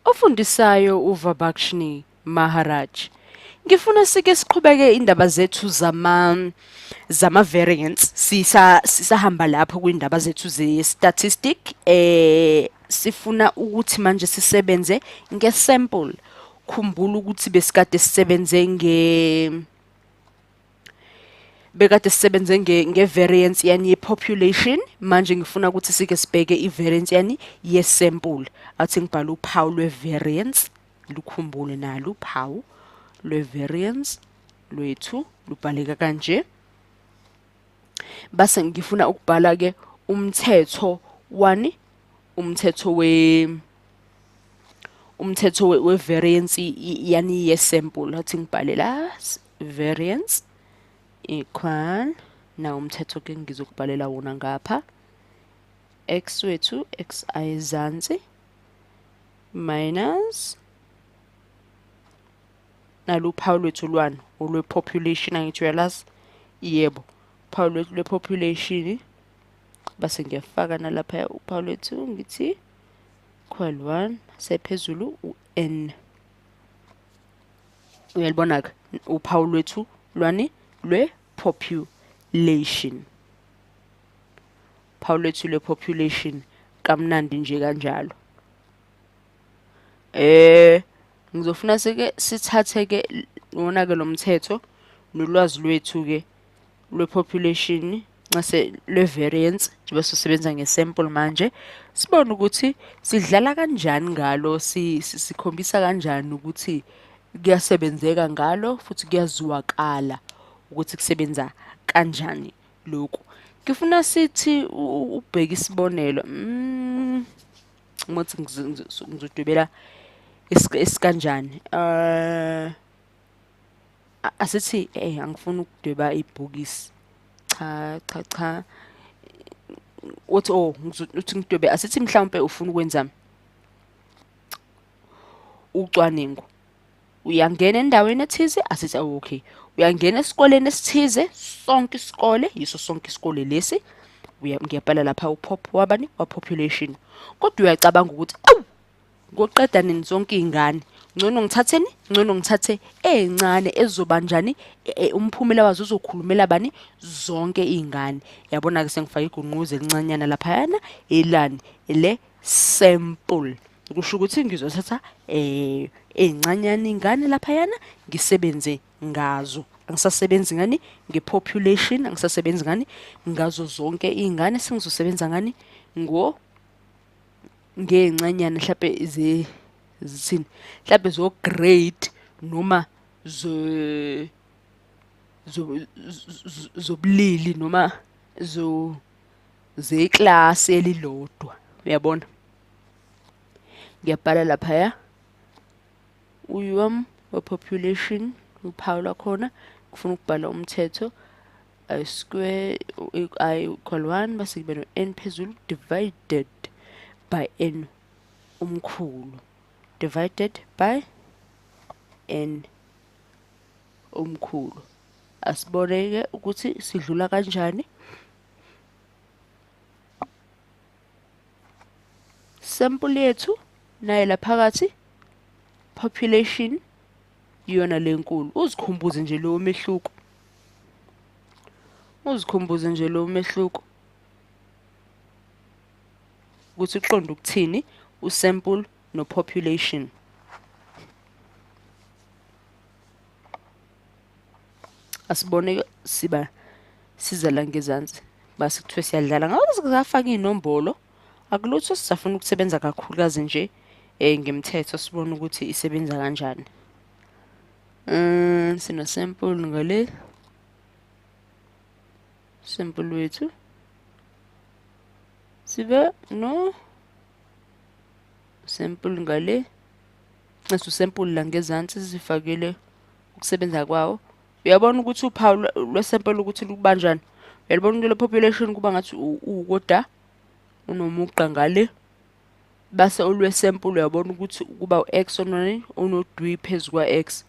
Ofundisayo uVabakshni Maharaj. Ngifuna sike siqhubeke indaba zethu zama zama variants sisa sisahamba lapho kwindaba zethu ze statistic eh sifuna ukuthi manje sisebenze nge sample khumbula ukuthi besikade sisebenze nge bekade sisebenze nge, nge variance yani ye population manje ngifuna ukuthi sike sibheke i variance yani ye sample athi ngibhala uphawu lwe variance lukhumbule nalo uphawu lwe variance lwethu lubhaleka kanje base ngifuna ukubhala ke umthetho wani umthetho we umthetho we variance yani ye sample athi ngibhale la variance equal na umthetho ke ngizokubhalela wona ngapha x wethu x ayizansi minus naluphawu lwethu lwani olwe-population angithi uyalazi yebo uphawu lwethu lwe-population base ngiyafaka nalaphaya uphawu lwethu ngithi equal 1 sephezulu u-n uyalibona-ke uphawu lwethu lwani lwe-population phawu lwethu lwe-population kamnandi nje kanjalo eh ngizofuna sike sithathe-ke wona-ke lo mthetho nolwazi lwethu-ke lwe-population nxese lwe-variance njengoba sisebenza nge-sample manje sibone ukuthi sidlala kanjani ngalo sikhombisa kanjani ukuthi kuyasebenzeka ngalo futhi kuyaziwakala ukuthi kusebenza kanjani lokhu ngifuna sithi ubheke isibonelo mm, ngothi ngizodwebela esikanjani um asithi eh angifuni ukudweba ibhokisi cha cha cha uthi oh uthi ngidwebe asithi mhlawumbe ufuna ukwenza ucwaningo uyangena endaweni ethize asithi awu oh, okay uyangena esikoleni esithize sonke isikole yiso sonke isikole lesi ngiyabhala lapha upop wabani wa population kodwa uyacabanga ukuthi awu Ngoqeda nini zonke izingane? Ngcono ngithatheni? Ngcono ngithathe ezincane ezizoba njani e, e, umphumela wazo uzokhulumela bani zonke izingane. Yabona ke sengifaka igunquzo elincanyana lapha yana elani ele sample. Kusho ukuthi ngizothatha eh ezincanyana izingane lapha yana ngisebenze ngazo. Angisasebenzi ngani ngepopulation, angisasebenzi ngani ngazo zonke izingane sengizosebenza ngani ngo ngey'ncanyana mhlampe zithini mhlampe zo-grade noma zobulili noma zeklasi elilodwa uyabona ngiyabhala laphaya uyom we-population uphawu lwakhona kufuna ukubhala umthetho I square i equal 1 base kube no n phezulu divided by n umkhulu divided by n umkhulu asiboneke ukuthi sidlula kanjani sample yethu naye laphakathi population iyona lenkulu uzikhumbuze nje lowo mehluko Uzikhumbuze nje lo mehluko ukuthi uqonda ukuthini usample nopopulation. Asibone siba siza la ngezansi base kuthiwe siyadlala ngabe sizafaka iy'nombolo akulutho sisafuna ukusebenza kakhulukazi nje um ngemthetho sibone ukuthi isebenza kanjani. um sina sample ngale sample wethu sibe no sample ngale nxesa usample la ngezansi sifakile ukusebenza kwawo uyabona ukuthi uphawu lwesample ukuthi lukubanjani uyalibona into le-population kuba ngathi ukoda unomugqa ngale base ulwesempulu uyabona ukuthi ukuba u-x onani unodwi phezu kwa-x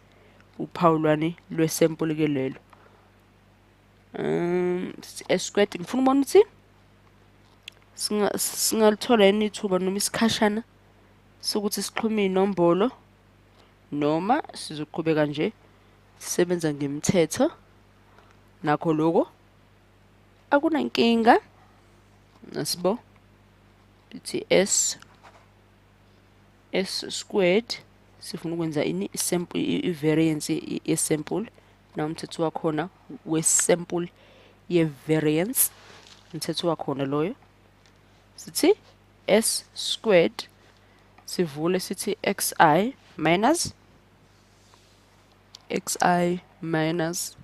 uphawu lwani lwesempulu ke lelo um esikweti ngifuna ubona ukuthi singalithola yini ithuba noma isikhashana sokuthi sixhume inombolo noma sizoqhubeka nje sisebenza ngemithetho nakho lokho akunankinga nasibo lithi s s squared sifuna ukwenza ini sample i-variance ye-sample na umthetho wakhona we-sample ye-variance umthetho wakhona loyo sithi s squared sivule sithi xi minus xi minus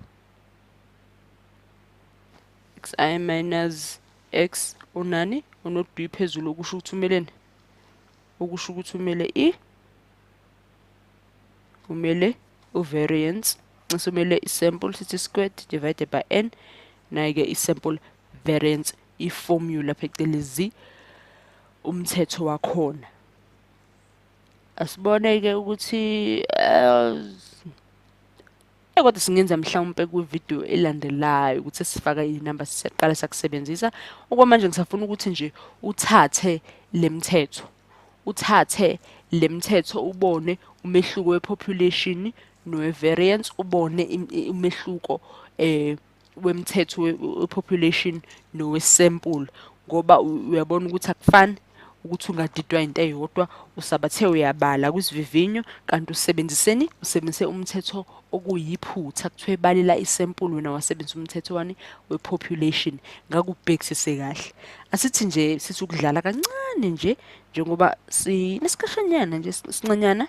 xi minus X unani unodwi phezulu okusho ukuthi umeleni okusho ukuthi umele i umele uvariance nxa umele isample sithi squared divided by n naye-ke isample variance iformula phecelezi umthetho wakhona asibone-ke ukuthi eh, Eh, kodwa singenza mhlawumpe kwividiyo elandelayo ukuthi sifaka iy'namba siyaqala sakusebenzisa okwamanje ngisafuna ukuthi nje uthathe le mthetho uthathe le mthetho ubone umehluko we-population nowe-variance ubone umehluko um wemthetho wepopulation nowesample ngoba uyabona ukuthi akufani ukuthi ungadidwa into eyodwa usabathe uyabala kwisivivinyo kanti usebenziseni usebenzise umthetho okuyiphutha kuthiwa ebalela isempulu wena wasebenzisa umthetho wani we-population ngakubhekisise kahle asithi nje sithi ukudlala kancane nje njengoba sinesikhashanyana nje sincanyana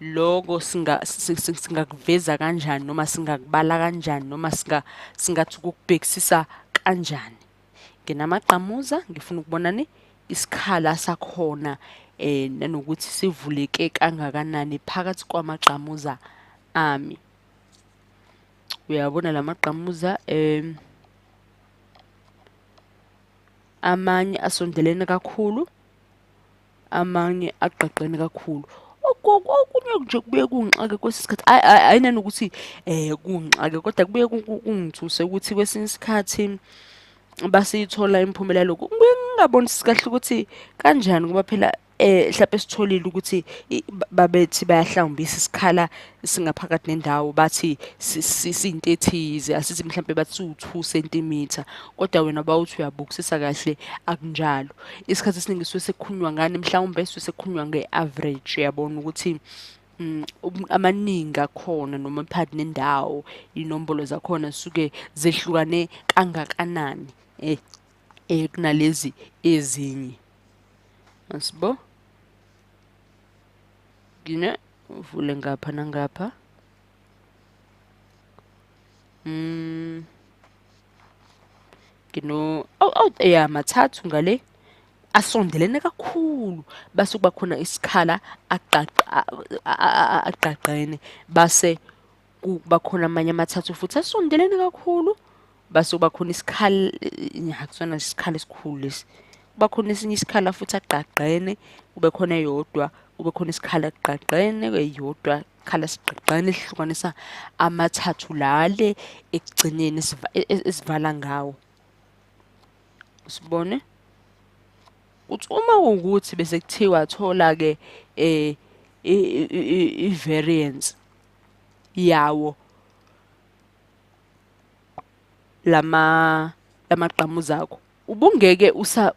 loko singa singakuveza kanjani noma singakubala kanjani noma singa singathi ukubhekisisa kanjani nginamagqamuza ngifuna ukubona ni isikhala sakhona eh nanokuthi sivuleke kangakanani phakathi kwamagqamuza ami uyabona lamagqamuza eh amanye asondelene kakhulu amanye agqagqene kakhulu okunye nje kubuye kungixake kwesinye isikhathi ayinani ukuthi um kungixake kodwa kubuye kungithuse ukuthi kwesinye isikhathi basiyithola imiphumela yalokhu kubuye ngingabonisi kahle ukuthi kanjani ngoba phela um mhlawumpe sitholile ukuthi babethi bayahlawumbisa isikhala singaphakathi nendawo bathi siyinto ethize asithi mhlawumbe bathi siwu-two centimeter kodwa wena bawuthi uyabukisisa kahle akunjalo isikhathi esiningi suke sekukhulunywa ngani mhlawumbe suke sekukhulunywa nge-average uyabona ukuthi um amaningi akhona noma phakathi nendawo iy'nombolo zakhona zisuke zehlukane kangakanani um um kunalezi ezinye asibo ngine uvule ngapha nangapha mm ngino aw aw ya mathathu ngale asondelene kakhulu base kuba khona isikhala agqagqa agqagqene base kuba khona amanye amathathu futhi asondelene kakhulu base kuba khona isikhala akusona isikhala esikhulu lesi kuba khona esinye isikhala futhi agqagqene kube khona eyodwa kube khona isikhala agqagqene eyodwa isikhala sigqagqene sihlukanisa amathathu lale ekugcineni e, e, esivala ngawo sibone uthi uma ukuthi bese kuthiwa thola ke eh i variance yawo lama lamagqamuza akho ubungeke usa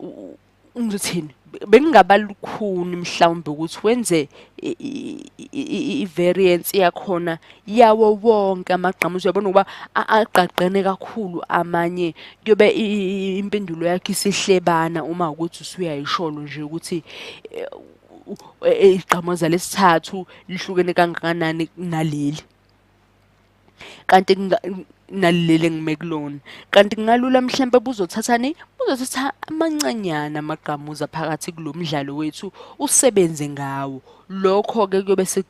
ngithini bekungaba lukhuni mhlawumbe ukuthi wenze i-variance yakhona yawo wonke amagqamuzi uyabona ukuba agqagqene kakhulu amanye kuyobe impendulo yakhe isihlebana uma ukuthi usuyayisholo nje ukuthi eh, igqamoza lesithathu lihlukene kangakanani kunaleli kanti nalilele ngime kulona kanti kungalula mhlampe buzothathani buzothatha amancanyana amagqamuza phakathi kulo mdlalo wethu usebenze ngawo lokho-ke kuyobe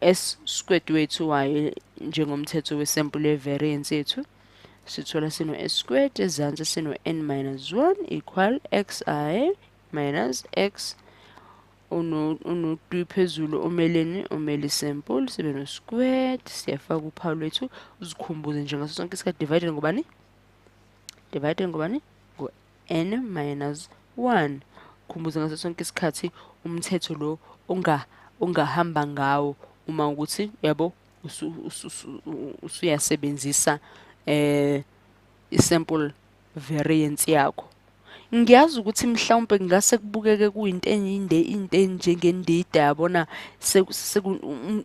S squared wethu wayo njengomthetho wesampuli yevariance yethu sithola sino s squared ezansi sino n minus 1 equal xi minus x unodwi phezulu omeleni omele isample sibe no squared siyafaka uphawu lwethu uzikhumbuze nje ngaso sonke isikhathi divided ngobani divided ngobani ngo n minus 1 khumbuza ngaso sonke isikhathi umthetho lo unga ungahamba ngawo uma ukuthi yabo usuyasebenzisa eh isample variance yakho ngiyazi ukuthi mhlawumbe kungase kubukeke kuyinto enyinde into enjengendida yabona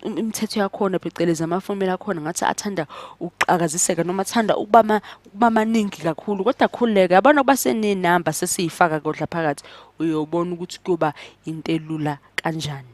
imithetho yakhona phecelezi amafomula akhona ngathi athanda ukuqakaziseka noma athanda ukuba kuba maningi kakhulu kodwa khululeke yabona ukuba senenamba sesiyifaka kodla phakathi uyobona ukuthi kuyoba into elula kanjani